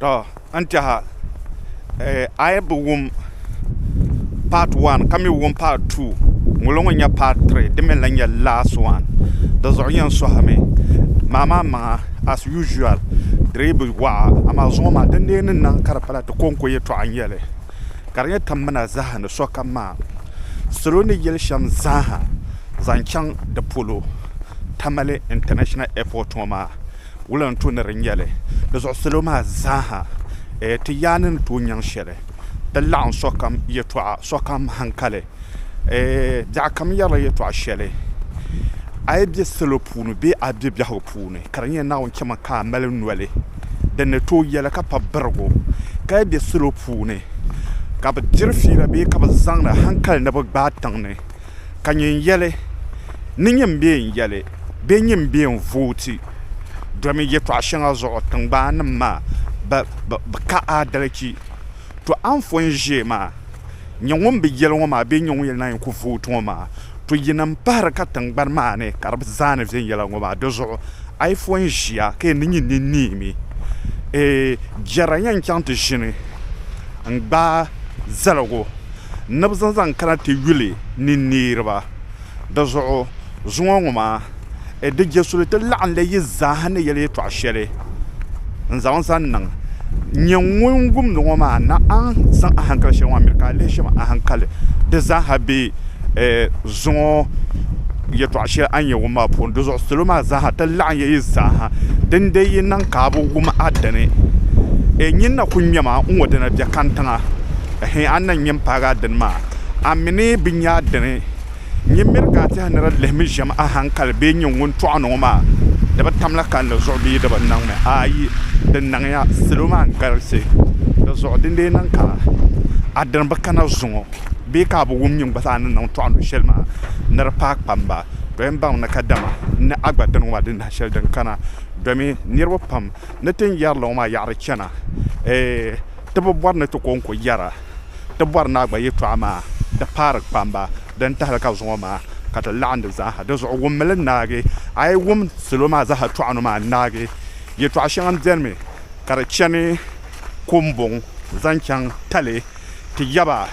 To n tɛha a yi bi wum part one ka mi wum part two ŋulo ŋun nyɛ part three di mi n lahi nyɛ last one di zuɣu yɛn suhi mi maa maa maŋa as usual di dii bi waɣa amaa zuŋɔ maa din dee ni niŋ ka di pala ti konko yɛltɔɣa n nyɛli ka di nyɛ timmina zaa ni sokam maa salo ni yɛli shɛm zaa ha zaŋ chaŋ di polo tamale international airport ŋɔ maa Wulinli tu ni di nyɛli. Di zuɣu salo maa zaaha ti yaa ni ni tooi nyaŋ shɛli ti laɣim sokam yɛtɔɣa sokam hankali. Biɛɣukam yɛrila yɛtɔɣ shɛli. A yi be salo puuni bee a be biɛhigu puuni, ka di nyɛ Naawuni chɛma ka a mali noli din ni tooi yɛli ka pa birigu, ka yi be salo puuni ka bɛ diri fiila bee ka bɛ zaŋdi hankali ni bɛ gbaai tiŋ ni, ka nyin yɛli, Ni nyin bee n-yɛli bee nyin bee n-vooti domi yɛtɔɣ shɛŋa zuɣu tiŋgbaanim maa bi ka aadalichi? To anfɔn ʒee maa, nyɛ ŋun bi yɛli ŋɔ maa bee nyɛ ŋun yɛli naai ku vooti ŋɔ maa, to yinim pahiri ka tiŋgbani maa ni ka di bi zaani viɛnyɛla ŋɔ maa. Di zuɣu a yi fɔn ʒiya ka yɛn ni nyin ni neemi, jɛra yɛn chaŋ ti ʒini n-gbaai zaligu ni bɛ zaŋ zaŋ kana ti yuli ni niriba. Di zuɣu zuŋɔ ŋɔ maa, di je suli ti laɣinli yi zaaha ni yɛli yɛtɔɣ shɛli n-zaŋ zaŋ niŋ. Nyɛ ŋun wumdi ŋɔ maa na a ni zaŋ ahankali shɛli ŋɔ a miri ka a lihi shɛm ahankali di zaaha be zuŋɔ yɛtɔɣ shɛli a ni yɛn wum maa puuni. Di zuɣu salo maa zaaha ti laɣinya yi zaaha dindee yi niŋ ka a bi wum a dini. Nyin na ku ŋmɛma n-ŋɔ dina biɛkantiŋa. Hẽ, a ni na nyɛ m-paagi a dini maa? A mi ni bi nya a dini? Nyin miri ka a tɛha ni di lihimi ʒiɛm a haŋkali bee nyin ŋun tɔɣi ni ŋɔ maa di bi tamla kalinli zuɣu bee di bi niŋmi? Aai, di niŋya. Salo maa n-galisi. Di zuɣu di ni lee niŋ ka a dini bi kana zuŋɔ bee ka a bi wum nyin gba zaa ni niŋ tɔɣi nu shɛli maa ni di paai kpam ba? Tɔ! N baŋmi ni kadama n ni a gba dini ŋɔ maa di nahi shɛli din kana domi. Niriba pam ni tin yɛri li ŋɔ maa yaɣiri chana. Eeh! Ti bi bɔri ni ti kɔŋko yɛra ti bɔri ni a gba yɛtɔɣa maa di paari kpamba din tahili ka zuŋɔ maa ka ti laɣim di zaaha. Di zuɣu wum mi li naagi. A yi wum salo maa zaaha tɔɣinu maa naagi, yɛtɔɣa shɛŋa m-beni mi ka di chani Kombuŋ zaŋ chaŋ Tali ti yaba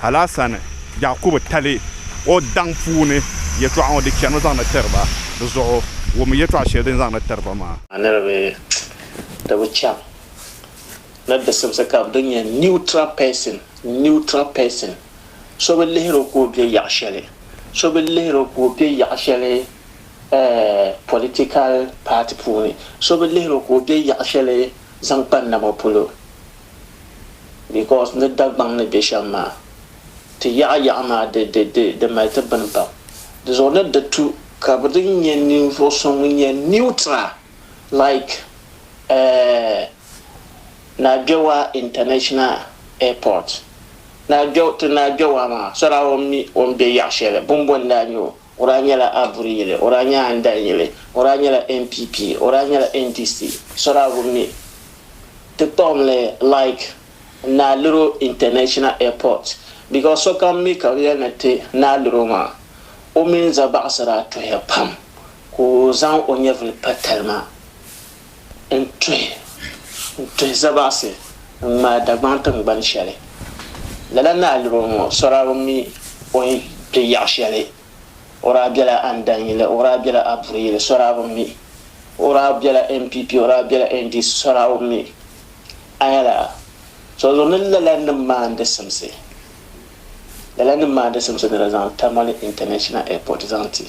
Alasan Yakubu Tali o daŋ puuni yɛtɔɣa ŋɔ di chanimi zaŋ ni tiri ba. Di zuɣu wum yɛtɔɣa shɛli din zaŋ ni tiri ba maa. A niriba, ti bi chaŋ na disimsi ka bɛ di nya neutral person, neutral person, so bi lihir o ka o be yaɣ shɛli, so bi lihir o ka o be yaɣ shɛli eh, political party puuni, so bi lihir o ka o be yaɣ shɛli zaŋ kpa nama polo because ni Dagbaŋ ni be shɛm maa, ti yaɣa yaɣa maa di, di, di, di mali ti bini pam. Di zuɣu ni di tu ka bɛ di nya ninvuɣ so ŋun nyɛ neutral. Like eh Naa Gbewaa International Airport. Naa Gbew ti Naa Gbewaa maa so daa o mi o ni be yaɣ shɛli bɛ ni boli Naa Nyo. O daa nyɛla Aburi yili, o daa nyɛ Andan yili, o daa nyɛla NPP, o daa nyɛla NDC so daa o mi. Ti kpuɣim li like Naa Luro International Airport because sokam mi ka bɛ yɛli ni ti Naa Luro maa o mini Zabaɣisi daa tuhiya pam. Ka o zaŋ o nyɛvili pa talima n-tuhi n-tuhi zabaɣisi n-ŋmaai Dagbaŋ tiŋgbani shɛli. Lala ni a liri o ŋɔ, sɔra bi mi o ni kpe yaɣ shɛli. O daa bela Andanyili, o daa bela Abureyili, sɔra bi mi. O daa bela NPP, o daa bela NDC, sɔra bi mi. A nya la? So zuɣu ni lala ni maandi simsi, lala ni maandi simsi ni di zaŋ Tamale International Airport zaŋ ti.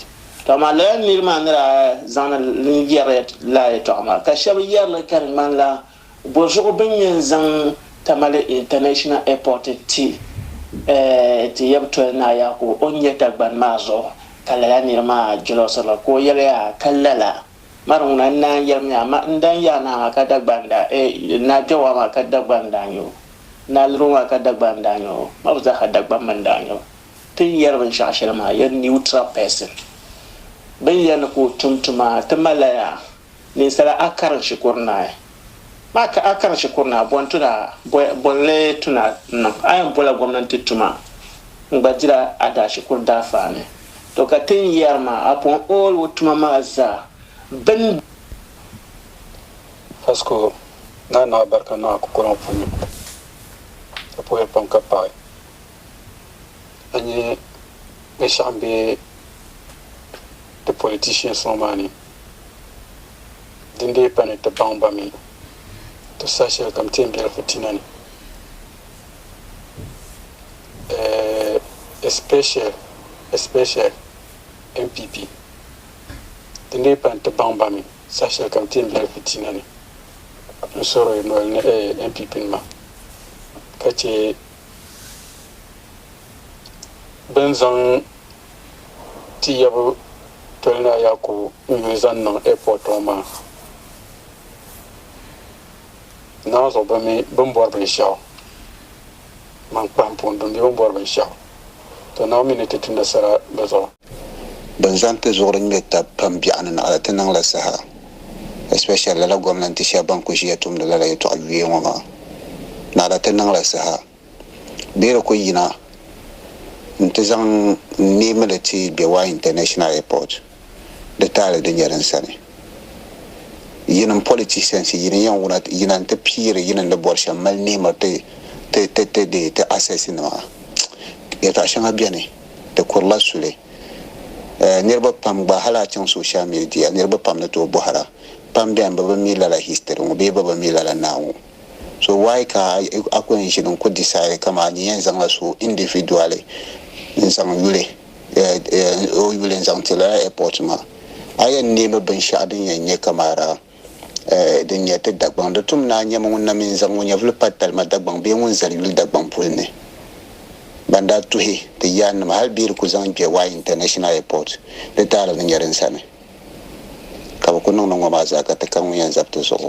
Ka maa lala nir maa ni daa zaŋdi li yɛri lala yɛtɔɣa maa, ka shɛba yɛri li ka di ŋmanila bɔzuɣu bɛ ni yɛn zaŋ Tamale International Airport ti ti yab toli Naa Yakubu o ni nyɛ Dagbani maa zuɣu, ka lala nir maa jɛlɔsiri li ka o yɛliya, Ka lala, mari ŋuna n naan yɛrimi ya, ma n dan yaai naa maa ka Dagbani daa, eei, Naa Kpɛwaa maa ka Dagbani daa nyɛ o, Naa Liroo maa ka Dagbani daa nyɛ o, ma bi zaaha Dagbani mi n daa nyɛ o. Ti ni yɛri binshɛɣu shɛli maa yɛri neutral person. Bɛ ni yɛri ni ka o tum tuma ti malila yaa ninsala a karin shikuru naai. Maa ka a karin shikuru naai bɔni tuna bɔni li tuna n-niŋ. A yɛn bɔla gomnanti tuma n-gba dila a daa shikuru daafaani. To ka ti ni yɛri maa upon all o tuma maa zaa bɛ ni. Vasco daa naai barika niŋ a kukɔliŋ puuni ka puhiri pam ka paai. a nya binshɛɣu m-be ti politicians ŋɔ maa ni din dii pa ni ti baŋ ba mi ti saha shɛli kam ti yɛn bela fitina ni especially especially NPP din dii pa ni ti baŋ ba mi saha shɛli kam ti yɛn bela fitina ni n suhiri NPP nima ka che bɛ ni zaŋ Tiyɛbu Tɔlinaa Yakubu Nyuhi zaŋ niŋ airport ŋɔ maa naanzuɣu bɛ mi bɛ ni bɔri binshɛɣu man kpahimpuŋ dini bɛ mi bɛ ni bɔri binshɛɣu to Naawuni mi ni ti tumdi sara di zuɣu. Bɛ ni zaŋ ti zuɣuri ŋmɛ tab pam biɛɣu ni naɣila ti niŋ la saha especially lala gomnanti sheba ban kuli ʒia tumdi lala yetɔɣa yuya ŋɔ maa naɣila ti niŋ la saha bee di kuli yina n ti zaŋ n neemi li ti Bewai International Airport di taali di nyɛ din sani yin n politicians yi ni yen wuna yina n ti piiri yi ni ni bori shem mali neemiri ti ti ti ti dee ti access nima yetɔɣa sheŋa biɛni di kurila suli. Eh, niriba pam gba, hali a chaŋ social media, niriba pam ni tooi bɔhir a. Pam beni bɛ bi mi lala history ŋɔ bee bɛ bi mi lala naa ŋɔ. So why ka a ku yɛn ʒini n-ku decide kaman a ni yɛn zaŋla so individually n-zaŋ yuli, eh, eh, o yuli n-zaŋ ti lala airport maa? A yɛn neemi binshɛɣu din yɛn nyɛ kamara. Din nyɛ ti Dagbaŋ di tum naan nyɛmi ŋun na mi n-zaŋ o nyɛvuli pa Talima Dagbaŋ bee ŋun zali yuli Dagbaŋ puli ni. Ban daa tuhi ti yaannima hal bee di ku zaŋ kpe Wye International Airport di taali ni nyɛ din sani ka bɛ ku niŋ ni ŋɔ maa zaa ka ti ka ŋun yɛn zabi ti zuɣu.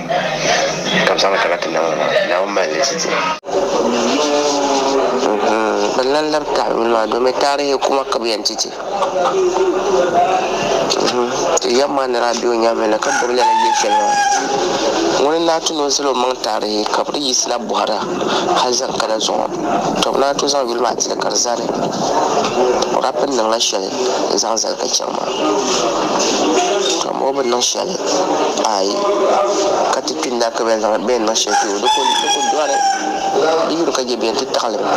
ka bi zaŋli kana ti Naawuni maa, Naawuni mali li ziti. Bɛ lan labi taawili maa domin taarihi kuma ka bɛ yɛn ti ti. Ti yɛm maa ni daa be o nyaaŋa na ka gbibi lala yil shɛli maa, ŋuni n-daa ti ni o zali omaŋ taarihi ka bɛ di yiɣisi na bɔhir a hal zaŋ kana zuɣu. Tɔ! Bɛ naan tooi zaŋ yuli maa ti li ka di zani. O daa pun niŋla shɛli. n zaŋ zali ka chaŋ maa ka mɔɣu bi niŋ shɛli ayi ka ti kpini daa ka bɛn zaŋ bɛn niŋ shɛli kpɛ o di ku di ku dɔri di yuli ka je bɛn ti taɣili mi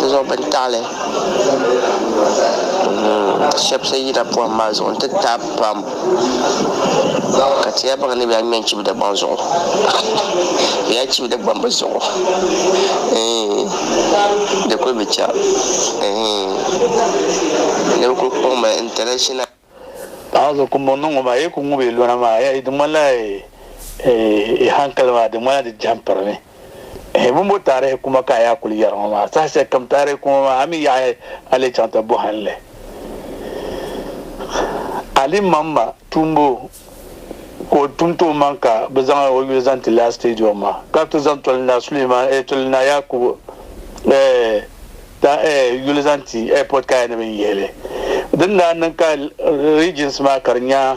di zuɣu bini taɣili shɛba siɣi yina pɔhim maa zuɣu n ti taai pam. Ka ti ya baŋ ni bɛ yaa ŋmɛ n-chibi Dagbaŋ zuɣu. Bɛ yaa chibi Dagbamba zuɣu. Eeh, di kuli bi cha. Eeh, ni bɛ kuli kɔŋ ma international. Paɣa so kumbɔŋ ni ŋɔ maa, yi ku ŋub yi lɔna maa, di ŋmanila yi hankali maa, di ŋmanila di jɛhim pirimi. Hibumbo taarihi kuma ka a yaa kuli yɛri ŋɔ maa? Saha shɛli kam taarihi kuma maa, a mi yaɣi a lee chaŋ ti bɔhim li. Alimamma tumbu ka o tum ti o maŋ ka bɛ zaŋ o yuli zaŋ ti lala stadium maa, ka ti zaŋ Toli Naa Suleiman eh Toli Naa Yakubu eh ta eh yuli zaŋ ti airport kaya ni bɛ ni yihi li. Din daa niŋ ka regions maa ka di nya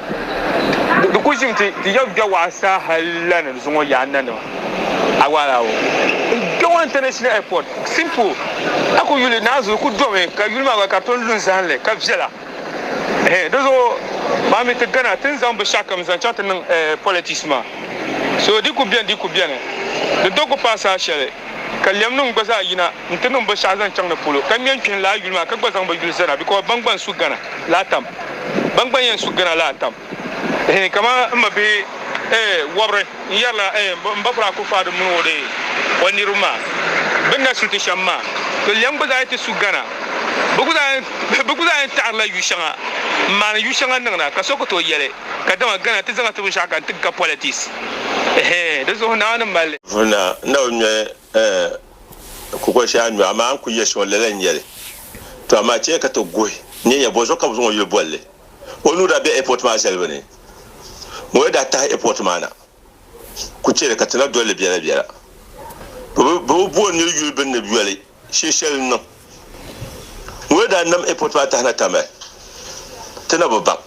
Di ku ʒimi ti ti yɛn ga waɣa sa hal la ni di zuŋɔ yaa n nanima. A waɣa laawo n ga waɣa International Airport. Simple. A ku yuli ni a zuɣu ku domi ka yuli maa gba ka di tom lu n zahim li ka viɛla. Ehe di zuɣu maa mi ti gana ti ni zaŋ binshɛɣukam zaŋ chaŋ ti niŋ politics maa. So di ku beni di ku beni. Di do ku paai saha shɛli ka lɛmnim gba zaa yina n ti niŋ binshɛɣu zaŋ chaŋ di polo ka ŋme n kpihim lala yuli maa ka gba zaŋ bi yuli zana because ban gba n su gana laa tam. Ban gba yɛn su gana la atam ehe kaman n ma bihi ehe wɔbiri n yɛrila ehe m ba Kuraa Akufo-Addo mini o ehe o niriba maa bini na su ti shɛm maa. To lɛm gba zaa yɛn ti su gana. Bɛ gba zaa yɛn bɛ gba zaa yɛn taɣirila yu shɛŋa n maani yu shɛŋa niŋ na ka so ku tooi yɛli ka dama gana ti zaŋ ti binshɛɣu ka n ti ga politics ehe di zuɣu Naawuni mali Vuna na o nyɔhi Ɛɛh! N ku kuli shɛla n-nyɔ, amaa n ku yɛli shɛŋa lala n-nyɛ li. Tɔ amaa chɛ ya ka ti guhi n-nyɛ nya bɔ zuɣu ka bɛ zaŋ o yuli bolli. O nuu daa be ɛpɔti maa zalibu ni. Ŋɔ yi daa tahi ɛpɔti maa na, ku chɛ li ka ti na dol li biɛlabiɛla. Bɛ bi bo n-nir yuli bɛ ni yoli shinshɛli n-niŋ. Ŋun yɛn daa nam ɛpɔt maa tahina tami ti na bi baŋ.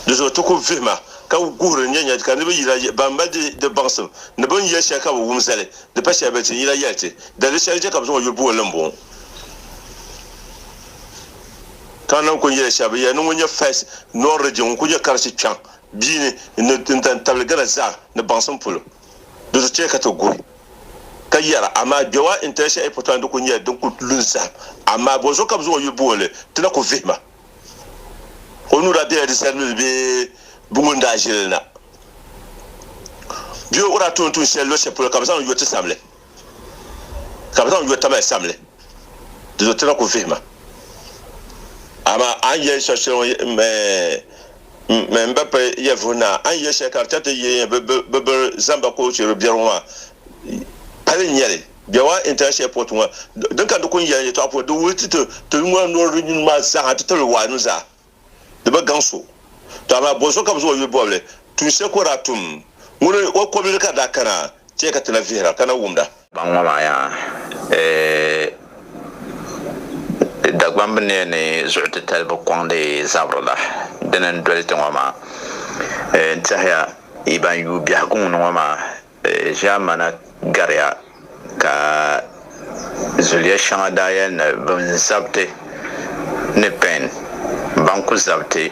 Di zuɣu ti ku vihi ma ka guhiri n-nyɛ nyɛ ka niriba yina yɛli ban mali di baŋsim ni bɛ ni yɛli shɛli ka bi wum zali di pa shɛli bɛ ni ti yina yɛli ti dali di shɛli n-chɛ ka bɛ zaŋ o yuli buɣim li m-bɔŋɔ. Ka nam kul yɛli shɛba bɛ yɛli ni ŋun nyɛ First North Region ŋun kul nyɛ Karachi kpiɔŋ bia ni n-dan tabili Ghana zaa ni baŋsim polo. di ti chɛ ka ti guhi, ka yɛra, Amaa Gbewa International Airport maa ni kul nyɛla din kul lu n-zahim, amaa bɔzuɣu ka bɛ zaŋ o yuli booni li, ti na ku vihi ma. O nuu daa bela di zalimibi bee bɛ ŋun daa ʒiri li na, bee o daa tooi ni tuun shɛli luɣ shɛli polo ka bɛ zaŋ li yo ti samli. ka bɛ zaŋ yo tamali samli, di zuɣu ti na ku vihi ma. Amaa a ni yɛli shɛb shɛli ŋɔ me mi m ba pa ya vuhi na, a ni yɛli shɛli ka di chɛ ti yihi bɛ biri zaŋ ba kootu shiri biɛri ŋɔ maa, pali n-nyɛ li. Biawaa International Airport ŋɔ, din ka ni di ku ni yɛli n yɛtɔɣa puuni, di wuhi ti ti yuŋ maa nɔri di nini maa zaa ha nti tabili waanim zaa. di bi gaŋ so. Tɔ amaa bɔzuɣu ka bɛ zaŋ o yuli bɔbili tuun shɛli ka o daa tum? Ŋuni o kɔbili ka di daa kana chɛ ka ti na vihira, ka na wumda? Kpaŋ ŋɔ maa yaa eeh! Dagbaŋ bi niya ni zuɣu titali bi kɔŋdi zabiri la, dini n-doli ti ŋɔ maa? Eeh! N-tɛhiya, yi ban yuui biɛhigu ŋuni ŋɔ maa, Ʒɛmana gariya ka zuliya shɛŋa daa yɛli ni bɛn zabiti ni pɛn ban ku zabiti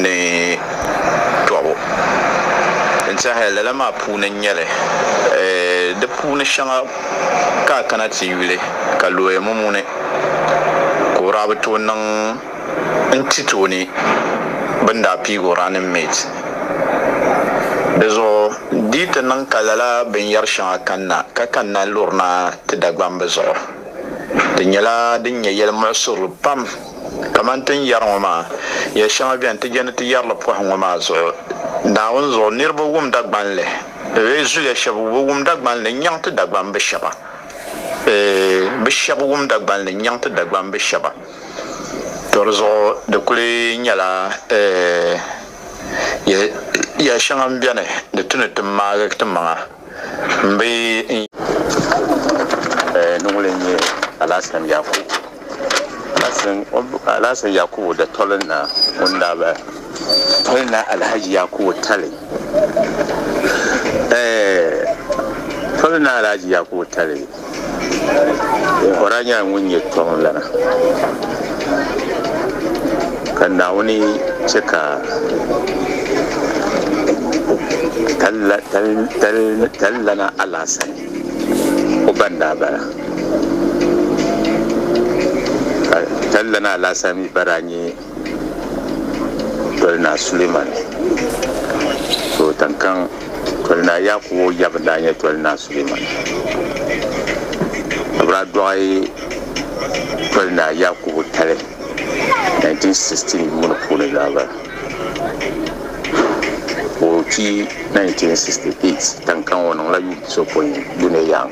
ni tɔbu n-tɛhi lala maa puuni n-nyɛ li. Di puuni shɛŋa ka a kana ti yuli ka looya mumuni ka o daa bi tooi niŋ. n-ti tooni bɛ ni daa piigi o running mate. Di zuɣu di yi ti niŋ ka lala binyɛr shɛŋa kanna ka kanna lurina ti Dagbamba zuɣu, di nyɛla din nyɛ yɛl muɣisirili pam. Kaman ti ni yɛri ŋɔ maa, yɛl shɛŋa beni ti je ni ti yɛri li pɔhim ŋɔ maa zuɣu. Naawuni zuɣu niriba wum Dagbanli, bee zuliya shɛb bi wum Dagbanli n-nyaŋ ti Dagbamb shɛba. Bɛ shɛb wum Dagbanli n-nyaŋ ti Dagbamb shɛba. To di zuɣu di kuli nyɛla ya shɛŋa m-beni di tu ni ti maagi ti maŋa m-bi di ŋun n-nyɛ Alasan Yakubu Alasan Yakubu datolina ŋun daa be tolina Alahaji Yakubu Tali tolina Alahaji Yakubu Tali Kora nyɛla ŋun nyɛ kpiɔŋlana ka Naawuni chɛ ka talilana alaasani o ba n-daa bala ka talilana alaasani mi ba daa nyɛ Toli Naa Suleiman To tinkaŋ Toli Naa Yakubu Jabi n-daa nyɛ Toli Naa Suleiman Abraa Dɔɣi Toli Naa Yakubu Tali 1916 yuuni puuni zaɣ'bali ka o kpi 1968 tinkaŋ o niŋla yuun pisopoin Duniyang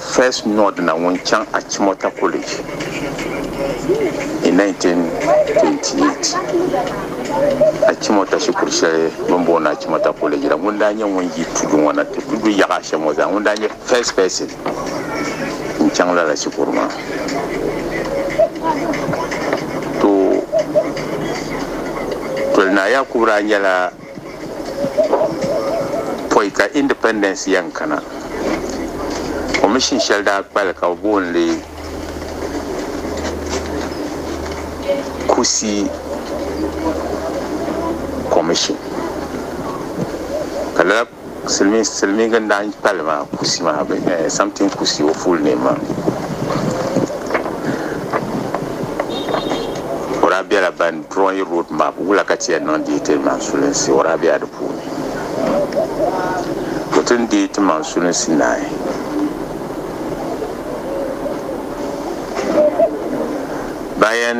First Nod na ŋun chaŋ Achimota College in 1928. Achimota shikuru shɛli bini booni Achimota College la ŋun daa nyɛ ŋun yi tudu ŋɔ na ti tudu yaɣa ashɛm ŋɔ zaa ŋun daa nyɛ first person n chaŋ lala shikuru maa. To Toli Naa Yakubu daa nyɛla pɔi ka independence yɛn kana commission shɛli daa kpali ka bɛ booni li Kusi commission ka lala Silimiin silimiin n daa kpali maa kusi maa bɛ eh, something kusi o full name maa o daa bela ban drawing road map wula ka ti yɛn niŋ deei ti maŋ sulinsi o daa bela di puuni o ti ni deei ti maŋ sulinsi naai ban yɛn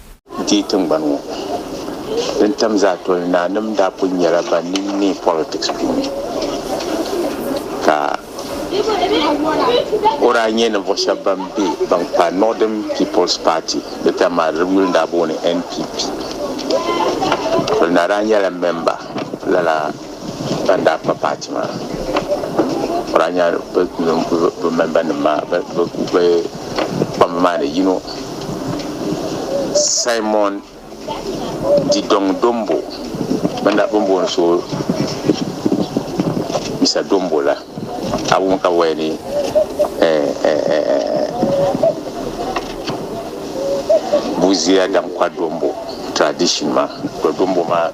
Di tiŋgbani ŋɔ din tam zaa toli naanim daa pun nyɛla ban nini neei politics puuni ka o daa nyɛ ninvuɣu shɛba ban be ban kpa Northern People's Party di tam maa di yuli daa booni NPP toli naa daa nyɛla member lala ban daa kpa paati maa ka daa nya bɛ mɛmbanima maa bɛ kpamba maa ni yino Simon Didɔŋ Dombo bɛn booni so Mr Dombo la. A wum ka waya ni Busia dam Kwadombo tradition maa, Kwadombo maa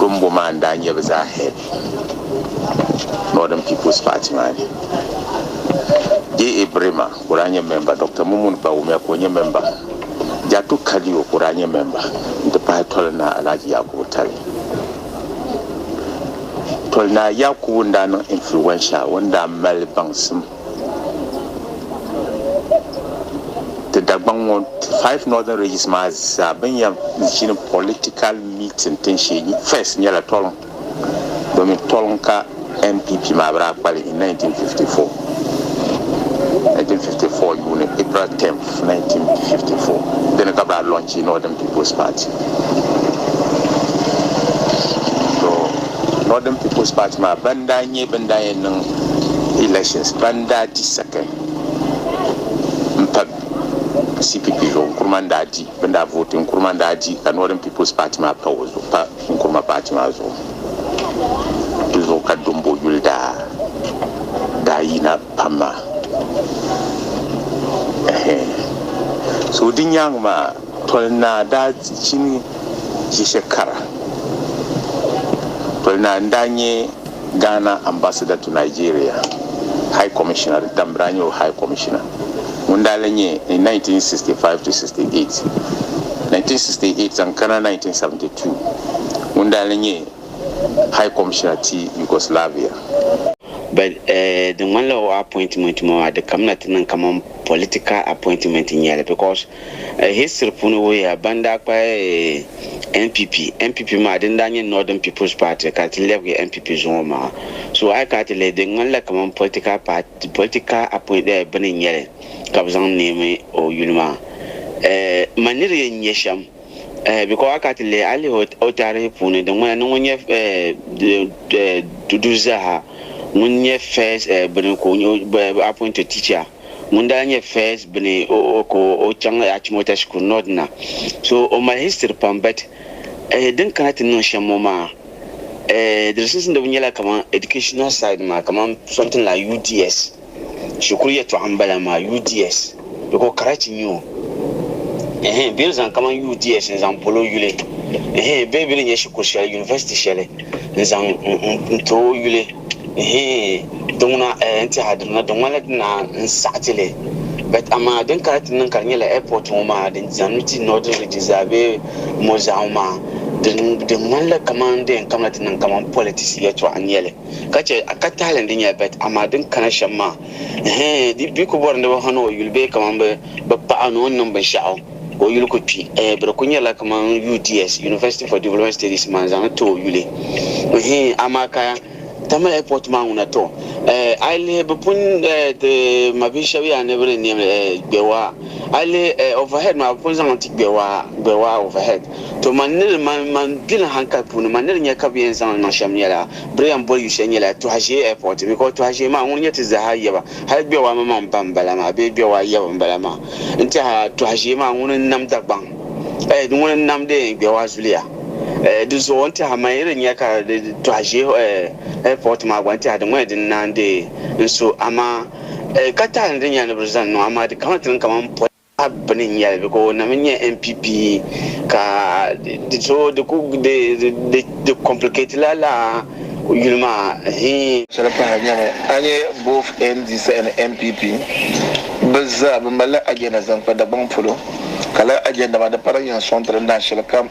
Dombo maa n-daa nyɛ bɛ zaa head Northern People's Party maa ni. JA Brima. ka o daa nyɛ mɛmba, Dɔkta Mumuni Bawumia ka o nyɛ mɛmba, Jatu Kadiyo ka o daa nyɛ mɛmba n-ti pahi Toli Naa Alhaji Yakubu Tali. Toli Naa Yakubu n-daa niŋ influential, o ni daa mali baŋsim ti Dagbaŋ ŋɔ five northern regions maa zaa bɛ ni yɛn ʒini political meeting tinshee first nyɛla Tɔliŋ. domin tɔliŋ ka NPP maa bi daa kpali in 1954, 1954 yuuni, April 10th, 1954, dini ka bi daa lɔnchi Northern People's Party. To Northern People's Party maa ban daa nyɛ bin daa yɛn niŋ elections ban daa di second n pa CPP zuɣu Nkrumah n daa di bin daa vote Nkrumah n daa di ka Northern People's Party maa pa o zuɣu. Nkuruma paati maa zuɣu. Di zuɣu ka Dombo yuli daa daa yina pam maa. So di nyaaŋa maa Toli Naa daa chini Yeshe Kara. Toli Naa n daa nyɛ. Ghana Ambassador to Nigeria, High Commissioner, di tam daa nyɛ o High Commissioner ŋun daa lan nyɛ in 1965 to 68, 1968 zaŋ kana 1972, ŋun daa lan nyɛ High Commissioner ti Yugoslavia. But di ŋmanila o appointment maa di kamina ti niŋ kaman political appointment n-nyɛli because. History puuni wuhiya ban daa kpahi NPP, NPP maa din daa nyɛ Northern People's Party ka ti lɛbigi NPP zuŋɔ maa. So a yi kana ti lihi di ŋmanila kamani political party, political appoint eh bini n-nyɛ li ka bɛ zaŋ neemi o yuli maa eh ma niri yɛn nyɛ shɛm eh because a yi kana ti lihi a lihi o taarihi puuni di ŋmanila ni ŋun nyɛ eh duduzi zaa ha ŋun nyɛ first eh bini ka o nyɛ appointed teacher. ŋun daa nyɛ First bini o ka o chaŋ Achimota shikuru North na. So o mali history pam but eh din kana ti niŋ shem ŋɔ maa eh di di sunsuuniba nyɛla kaman educational side maa kaman something like UDS shikuru yɛltɔɣa m bala maa UDS biko karachi n nyɛ o eh bɛ ni zaŋ kaman UDS n zaŋ boli o yuli eh bee bɛ ni nyɛ shikuru sheli university sheli n zaŋ n ti o yuli eh. Di ŋuna n tɛha di duna, di ŋmanila di naa n saɣi ti li. But amaa din kana ti niŋ ka di nyɛla airport ŋɔ maa din zani mi ti northern region zaa bee mo zaa ŋɔ maa, di di ŋmanila kaman di yɛn kamila ti niŋ kaman politics yɛltɔɣa n nyɛli. Ka chɛ a ka tahili ni di nyɛla but amaa din kana shɛm maa hee di di ku bɔri ni di bi hani o yuli bee kaman bi bi paɣi o ni o ni niŋ binshɛɣu ka o yuli ku kpi hee bɛ di ku nyɛla kaman UDS, University for Development Studies maa n zaŋ ni ti o yuli hee amaa ka Tamale airport maa ŋuna tɔ eh, a yi lihi bi pun eh, ti mabihi shɛb yaa ni bi di niɛm li eh, gbɛwaa a yi lihi eh, overhead maa bi pun zaŋ n ti gbɛwaa gbɛwaa overhead to man ni di man man gbili hankali puuni man ni di nya ka bi yɛn zaŋ li niŋ shɛm nyɛla bi di yɛn boli yu shɛli nyɛla Tɔhazee airport because Tɔhazee maa ŋuni nyɛ ti zaha yaba hali gbɛwaa maŋmaŋ ba m bala maa bee gbɛwaa yaba m bala maa n tiɛha Tɔhazee maa ŋuni n nam Dagbaŋ Eh, di ŋuni n-nam di yɛn gbɛwa zuliya. Eh, di zuɣu n-tɛha man yi di nya ka di tɔhi ʒeehi eh, airport maa gba n-tɛha di ŋuni di ni naan deei n-so amaa eh, ka tahi ni di nya ni bɛ di zaŋ niŋ amaa di kana ti niŋ kaman pɔi a bini n-nyɛ li biko o nam n-nyɛ NPP ka di so di ku di di di complicate la lala. Yuli maa hii. Shɛli pahiri n nyɛmi a nya both mdc ni NPP bɛ zaa bɛ malila agenda zaŋ kpa Dagbaŋ polo ka lala agenda maa di pala yɛn sɔŋ ti din daa shɛli kam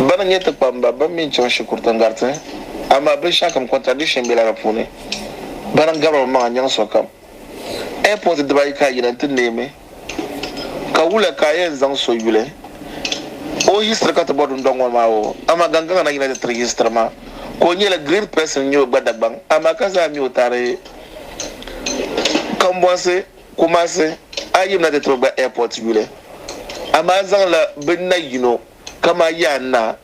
bɛn nyɛ ti kpamba bɛn mi chaŋ shikuriti n-gariti amaa binshɛɣu kam contradiction bela di puuni bɛn gabiri mi maŋa nyaŋ sokam Airport dibaayi ka a yina nti neemi, ka wuliya ka a yɛn zaŋ so yuli o history ka ti bɔri dundɔŋ ŋɔ maa o, amaa Gangaŋa na yina ti tiri history maa ka o nyɛla great person n-nyɛ o gba Dagbaŋ amaa ka zaa mi o taari Kambɔnsi, Kumasi, a yimina ti tiri o gba Airport yuli amaa zaŋla binna yino kamani Yaannaa.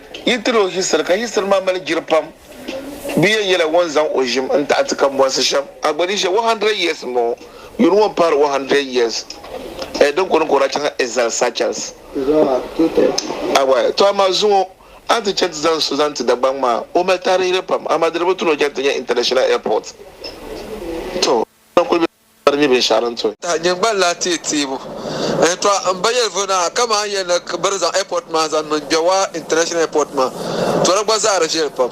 Yi tiri o hisiri, ka hisiri maa mali jiri pam. Bɛ yɛn yɛla ŋun zaŋ o ʒim n-taɣi ti kambɔnsi shɛm. A gba ni ʒiya one hundred years m-bɔŋɔ, yuri ŋɔ m-pahiri one hundred years eh, din kɔŋ ni ka o daa chaŋla Exile Seychelles. A gba eh, tɔ amaa zuŋɔ a ni ti chani ti zaŋ so zaŋ ti Dagbaŋ maa, o mali taarihili pam, amaa di ni bi tu ni o chani ti nya International Airport. Tɔ! N-lahi kuli be. ka di nyɛ binshɛɣu din to. Nyingban lahi teei teebu n tɔɣi n ba yɛlivuy na ha kaman n yɛn ni biri zaŋ airport maa zaŋ niŋ Gbewa International Airport maa to di gba zahiri viɛli pam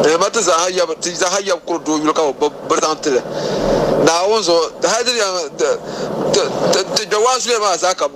n ma ti zaaha yab ti zaaha yab kuri doo yuli ka bi gbubi biri zaŋ tili Naawuni zuɣu hali di di yɛn ti Gbewa zuliya maa zaa ka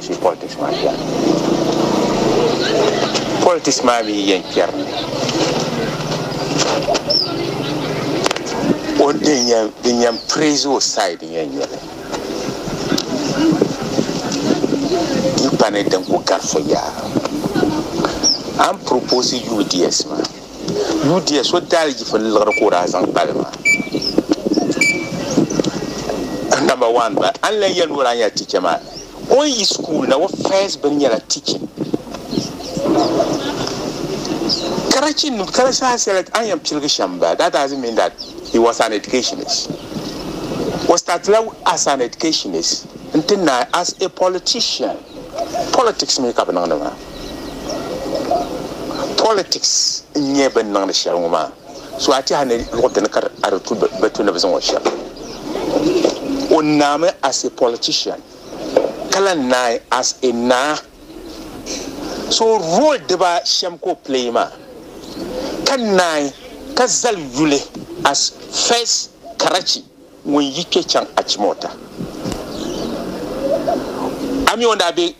Politics maa kpɛri politics maa mi yɛn kpɛri ni o din yɛn din yɛn praise o side yɛn nyɛli n kpani din ku gari fo yaa an propose UDS maa Yudia so daali yifu ni liɣiri ka o daa zaŋ kpali ma. Number one ba an lan yɛli ni o daa nyɛla teacher maa o ni yi school na o first bin nyɛla teaching karachi nim karachi daa sɛla an yɛn piligi shɛm ba that doesn't mean that he was an educationist o startila as an educationist n ti naai as a politician politics mi ka bi niŋdi maa politics n nyɛ bin niŋdi shɛli ŋɔ maa so a tiɛha ni luɣu dini ka a di tu bi tu ni bi zaŋ o shɛm o naami as a politician ka la naai as a naa so role dibaa shɛm ka o play maa ka naai ka zali yuli as first karachi ŋun yi kpɛ chaŋ achimota ami o daa be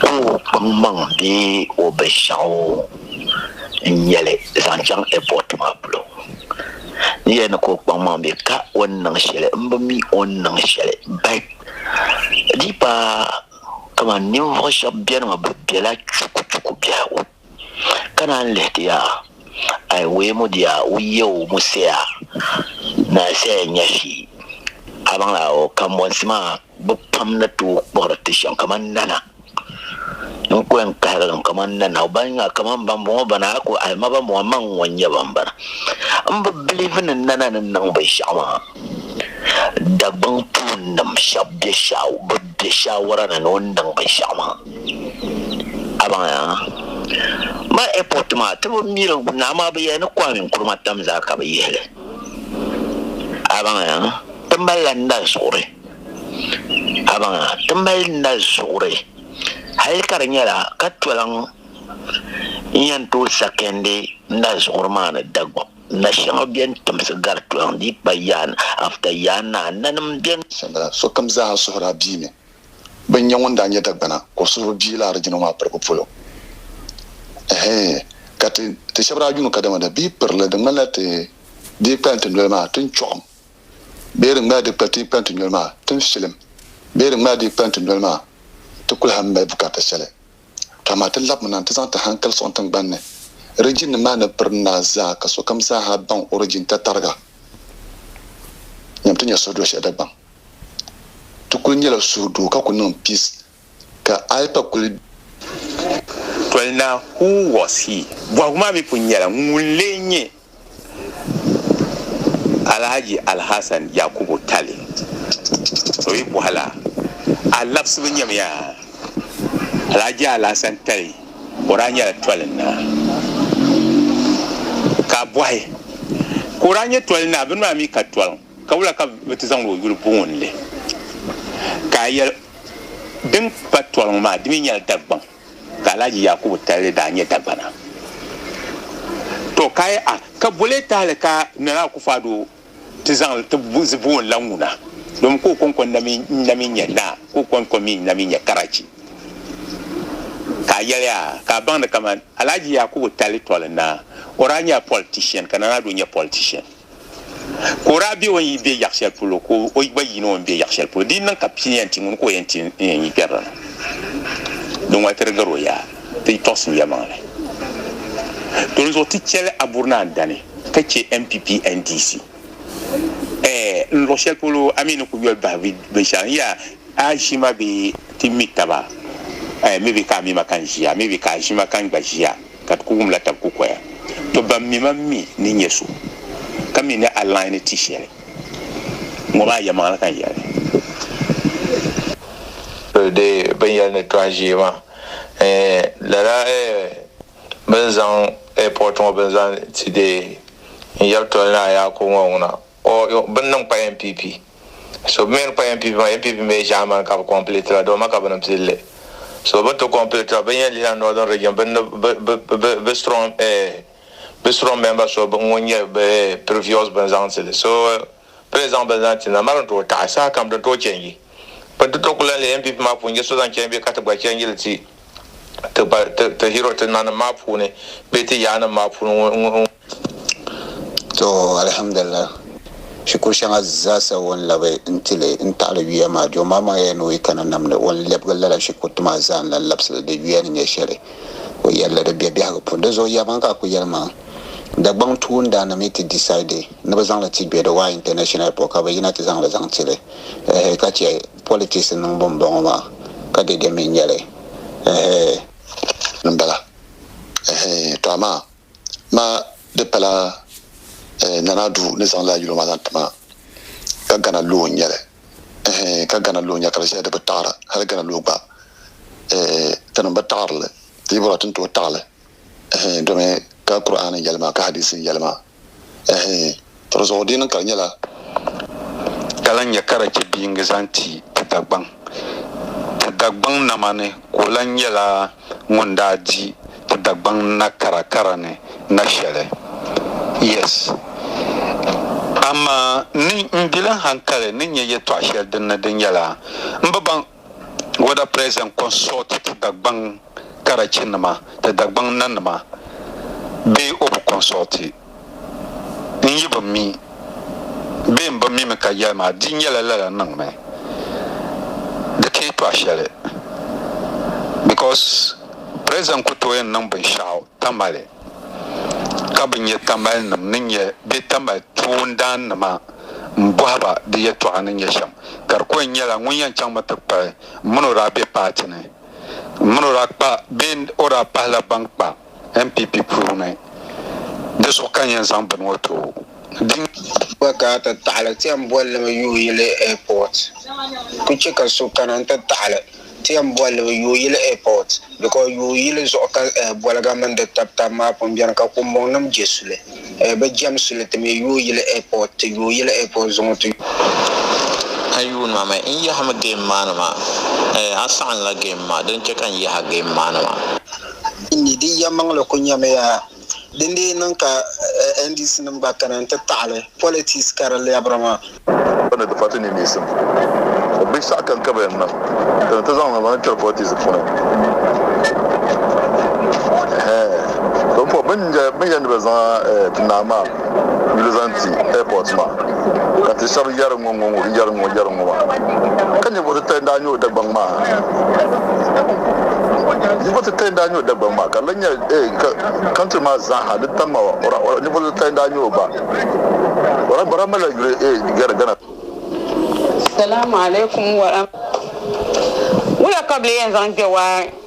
Ka o kpaŋmaŋ bee o binshɛɣu n-nyɛ li zaŋ chaŋ ɛpɔti maa polo. N yɛli ni ka o kpaŋmaŋ bee ka o ni niŋ shɛli m-bi mi o ni niŋ shɛli bɛt di paai kamani ninvuɣ shɛba beni maa bɛ bela chukuchuku biɛhigu. Ka naan lihi ti ya, Ai wee mu dia u yeo mu seya na seya nya fi, abaŋla o kambonsi maa bɛ pam ni tooi kpuɣiri ti shɛm kaman nana. N ku yɛn kahigi li mi kaman nana, ban nya kaman bambɔŋɔ bana a ku ahi ma bambɔŋɔ, maŋ ŋun nyɛ bambana. M bi biliivi ni nana ni niŋ binshɛɣu maa. Dagbaŋ puuni nim shɛb be bi be shawara ni ni o ni niŋ binshɛɣu maa a baŋ ya ma ɛpɔt maa ti bi miri naa maa bi yɛli ni Kwame Nkrumah tam zaa ka bi yihi li a baŋ ya ti mali la nali zuɣuri a baŋ ya ti mali nali zuɣuri hali ka di nyɛla ka tolaŋ n yɛn tooi sakɛndi nali zuɣuri maa ni Dagbaŋ. Na shɛŋa bɛn timsi gari tɔhiŋ di kpa yaan after yaan na nanim bɛn. Shɛmbala, sokam zaaha suhiri a bia mi bɛn nya ŋun daa nyɛ Dagbana ka o suhiri bia laɣiri jina maa piribu polo. Ɛhɛɛi, ka ti, ti shɛba daa yuun ka dama da bia kpiri li, di ŋmanila ti dii kpalim ti noli maa tin chɔɣim, bee di ŋmanila di kpa ti kpalim ti noli maa tin filim, bee di ŋmanila di kpalim ti noli maa ti kuli ha mali bukata shɛli. Ka amaa ti labimi na nti zaŋ ti hankali sɔŋ tiŋgbani ni rijinim maa ni piri na zaa ka sokam zaa ha baŋ o rijin tatariga. Nyam ti nya suhudoo shɛli Dagbaŋ. Ti kuli nyɛla suhudoo ka ku niŋ piis ka Ayipa kuli. Toli naa, Who was he? Bɔhigu maa mi pun nyɛla, Ŋun n-lee nyɛ? Alhaji Alhassan Yakubu Tali o yi bɔhi la a labisibu nyamiya Alhaji Alhassan Tali o daa nyɛla tɔlin naa ka a bɔhi ka o daa nyɛ tɔlin naa bini maa mi ka tɔliŋ ka wula ka bɛ ti zaŋdi o yuli booni li ka a yɛli din pa tɔliŋ maa di mi nyɛla Dagbaŋ ka Alhaji Yakubu Talle daa nyɛ Dagbana. Tɔ ka yi a, ka boli tahili ka Nana Akufo-Addo ti zaŋ li ti bo n-lan ŋuna, domin ka o kɔŋko na mi n-na mi nyɛ naa, ka o kɔŋko mi n-na mi nyɛ karachi. Ka a yɛli a, ka a baŋdi kaman Alhaji Yakubu Talle tɔli naa, o daa nyɛla politician ka Nana Addo nyɛ politician. Ka o daa be o ni yi be yaɣ shɛli polo, ka o gba yiini o ni be yaɣ shɛli polo. Di yi niŋ ka pini yɛn ti ŋuni ka o yɛn ti n yɛn yi kpɛrili na, di ŋɔli ti di gari o yaa, ti tɔɣisim yɛlimaŋli. Dinzuɣu ti chɛli a buri ni a ni dani ka chɛ NPP NDC ɛɛh n luɣ shɛli polo a mi ni ku yoli bahi binshɛɣu n yɛa a ʒi ma bee ti mi taba ɛɛh maybe ka a mi ma ka n ʒiya maybe ka a ʒi ma ka n gba ʒiya. ka di ku wumla tab kukoya. To ban mi ma mi ni nyɛ so ka mi ni a lahi ni ti shɛli ŋɔ maa yɛlimaŋli ka n yɛli. Di bɛn yɛli ni tɔha ʒee maa eh lala eh bɛn zaŋ airport ŋɔ bɛn zaŋ ti deei n yɛri toli ni a yaako ŋɔ ŋuna. O yo bini niŋ kpa NPP. So bɛ mi ni kpa NPP maa, NPP mi ʒaamani ka bɛ kɔmpilitira dɔma ka bɛ ni pili li. So bini ti kɔmpilitira, bɛ ni yɛn lihila Northern Region bini ni bɛ strong bɛ strong member so ŋun nyɛ bɛ previous bini zaŋ ti li. So bɛ ni zaŋ bini zaŋ ti na, mali ni tooi taɣi. Sahakam di ni tooi change. Bini ti tooi ku lan leei NPP maa puuni n-je so zaŋ change bee ka ti gba change li ti. ti hero ti nanim maa puuni bee ti yaannim maa puuni ŋun To alhamdulillah shikuru shɛŋa zaasa o ni labi n-ti li n-taɣili yuya maa Jɔmbaaŋmaŋya ni o yi kana nam ni o ni lɛbigi lala shikuriti maa zaa n-lan labisi li di yuya ni nyɛ shɛli o yɛli li di be biɛhigu puuni. Di zuɣu yɛlimaŋli ka a ku yɛli maa Dagbaŋ tuundana mi ti decide ni bɛ zaŋ li ti Gbedowa International Airport ka bɛ yina ti zaŋ li zaŋ ti li ehe ka chɛ politics niŋbu n bɔŋɔ maa ka dede mi n nyɛli ɛhee. n bala ɛhee to amaa ma di pala ɛɛ Nana Ado ni zaŋ lala yuli maa zaŋ ti ma ka Ghana law n nyɛli ɛhee ka Ghana law n nyɛli ka di ʒiya di bi taɣiri hali Ghana law gba ɛɛ tinim bi taɣiri li ti yi bɔra ti ni tooi taɣi li ɛhɛin, domi ka Kur'aani yɛli maa ka hadiisi yɛli maa, ɛhɛin, tɔri zuɣu dini ka di nyɛla. Ka lan nya ka di chɛ bɛ yiŋgi zaŋ ti ti Dagbaŋ, ti Dagbaŋ namani ka o lan nyɛla ŋun daa di ti Dagbaŋ na kara kara ni na shɛli. Yes. Amaa ni m bilim hankali ni nya yɛtɔɣ shɛli din ni di nyɛla m bi baŋ. Whether present consult ti Dagbaŋ karachi nima ti Dagbaŋ nanima bee o bi consult n yi bi mi bee n bi mi mi ka yɛli maa di nyɛla lala niŋ mi di ti yi tɔɣi shɛli because present ku tooi n niŋ binshɛɣu Tamale, ka bɛ nyɛ Tamalenim ni nyɛ bɛ Tamale tuundaannima m-bɔhi ba bɛ yɛtɔɣa ni nyɛ shɛm. Ka di ku yɛn nyɛla ŋun yɛn chaŋmi ti kpuɣi m mini o daa be paati ni, m mini o daa kpa bee o daa pahila ban kpa NPP puuni. Di zuɣu ka n yɛn zaŋ bini ŋɔ tooi o. Di gba ka a ti taɣili ti yɛn boli li mi yuui yili airport. Ku chɛ ka so kana n-ti taɣili. Ti yɛn boli li Yooyili Airport because Yooyili zuɣu ka boliga mini di tabi tabi maa pun beni ka kumbɔŋ nim je suli. Bɛ jɛm suli ti me Yooyili Airport ti Yooyili Airport zuŋu ti. A yuun ma mi n yahimi game maa ni maa? A saɣinla game maa, din che ka n yahi game maa ni maa. N ni di yɛlimaŋli ku nyamiya. Din dii niŋ ka NDC nim gba kana n-ti taɣili politics ka di lɛbiri maa. Bɛ ni ti pati niŋmiisim bihi saha kam ka bɛ yɛn niŋ ka ni ti zaŋ niŋ niŋ kpɛri politics puuni. Hɛɛn! Ka bɛ pɔbi bɛ ni yɛn ni bɛ zaŋ ti naa maa yuli zaŋ ti airport maa ka ti shɛba yɛri ŋɔ ŋɔ ŋɔ yɛri ŋɔ yɛri ŋɔ maa ka ninvuɣu titali daa nyɛ o Dagbaŋ maa ninvuɣu titali daa nyɛ o Dagbaŋ maa ka di lan nyɛ eh, ka country maa zaaha di tam ma ɔra ɔra ninvuɣu titali daa nyɛ o ba ɔra bara malila yuli eh, Ghana Ghana Salamu alaikum waram. Wula ka bɛ lee yɛn zaŋ kpe waa?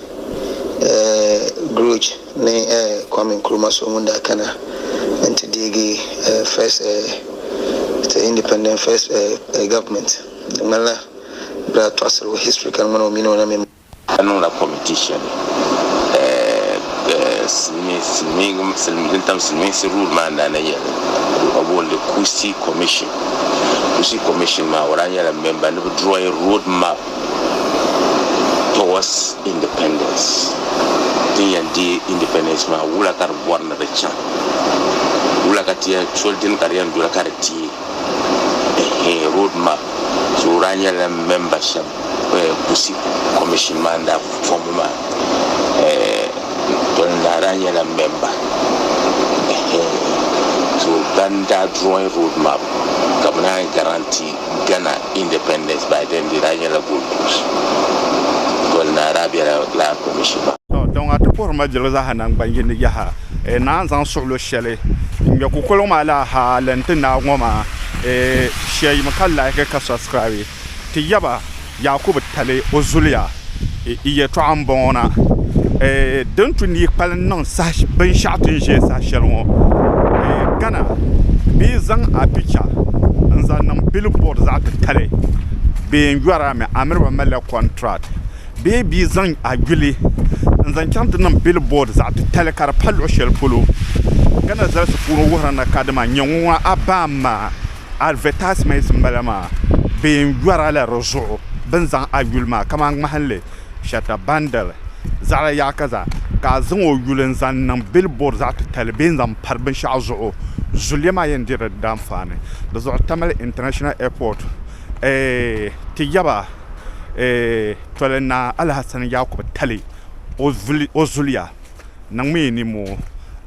Grudge ni Kwame Nkrumah so ŋun daa kana nti deegi First the Independent First Government di ŋmanila bɛ daa tɔɣisiri o history ka di ŋmani o mini o na mini Ka niŋla committee shɛli din tam silimiinsi rule maa naana yɛli ka bɛ booni li Kusi Commission. Kusi Commission maa o daa nyɛla member ni bɛ drawing road map towards independence tin yɛn deei independence maa wula ka di bɔri ni di chaŋ wula ka ti yɛn soli dini ka di yɛn doli ka di deei road map so o daa nyɛla member shɛba kusi commission maa ni daa form mi maa tɔli naa daa nyɛla member so ban daa drawing road map ka bi naan yi guarantee Ghana Independence by then di daa nyɛla Gold Coast doli ni Arabia la Land Commission. Tɔ, kpɛŋɔ a ti puhiri ma jilli zaaha naŋgban yini yaha, ee naan zaŋ suɣilo shɛli n-ŋmɛ kukoliŋ maa la ha lan ti naai ŋɔ maa, ee shɛyim ka like ka subscribe ti yaba. Yaakubu tali o zuliya yɛtɔɣa m-bɔŋɔ na, Din tu ni yi kpalim niŋ binshɛɣu ti ni ʒe saha shɛli ŋɔ Ghana bɛ yi zaŋ a picha n-zaŋ niŋ billboard zaɣ titali bɛ yɛn yɔri a mi a miri ba malila contract bee bɛ yi zaŋ a yuli n-zaŋ chaŋ ti niŋ billboard zaɣ titali ka di pa luɣ shɛli polo Ghana zalisi puuni wuhiri ni kadama nyɛ ŋɔ ŋɔ a baa m-ma. advertisements n bala maa bɛ yɛn yɔri la di zuɣu bini zaŋ a yuli maa kamani ŋmahinli shata bandal zaɣi yaha ka zaa ka a zaŋ o yuli n zaŋ niŋ billboard zaɣi titali bee n zaŋ pari binshɛɣu zuɣu zuliya maa yɛn diri di danfaani di zuɣu tamale international airport ti yaba tɔli naa Alhassan Yakubu tali o zuliya. niŋmi ninmoo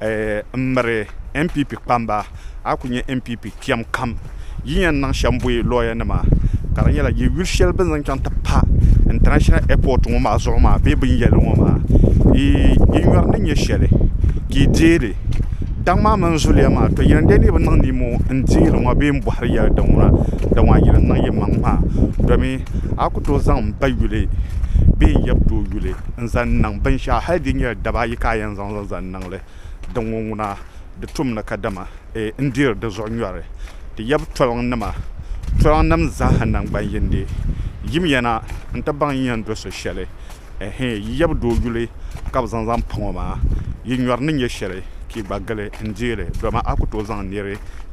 n miri npp kpamba a ku nyɛ npp kpɛm kam yi yɛn niŋ shɛm bɔyi lɔya nima ka di nyɛla yɛ yuli shɛli bini zaŋ chaŋ ti pa intanashinal ɛpɔt ŋɔ maa zuɣu maa bee bin yɛli ŋɔ maa yi nyɔri ni nyɛ shɛli ka yi deei li daŋ maa mini zuliya maa tɔ yɛli n dee ni yi bi niŋ ninmoo n deei li ŋɔ bee n bɔhiri yɛli din ŋuna dama yɛli n niŋ yimaŋ maa dɔmi a ku tooi zaŋ n ba yuli bee n yabitɔɣu yuli n-zaŋ niŋ binshɛɣu hali di nyɛla daba ayi ka a yɛn zaŋ zaŋ niŋ li, din ŋun ŋuna di tumni kadama e ni deeri di zuɣu nyɔri. Ti yab toliŋnima, toliŋnim zaaha naŋgban yindi, yimiya na nti baŋ yi yɛn do so shɛli, ɛhɛɛ, yi yab doo yuli ka bɛ zaŋ zaŋ paŋ o maa, yi nyɔri ni nyɛ shɛli ka yi gba gili n-deei li, dama a ku tooi zaŋ neeri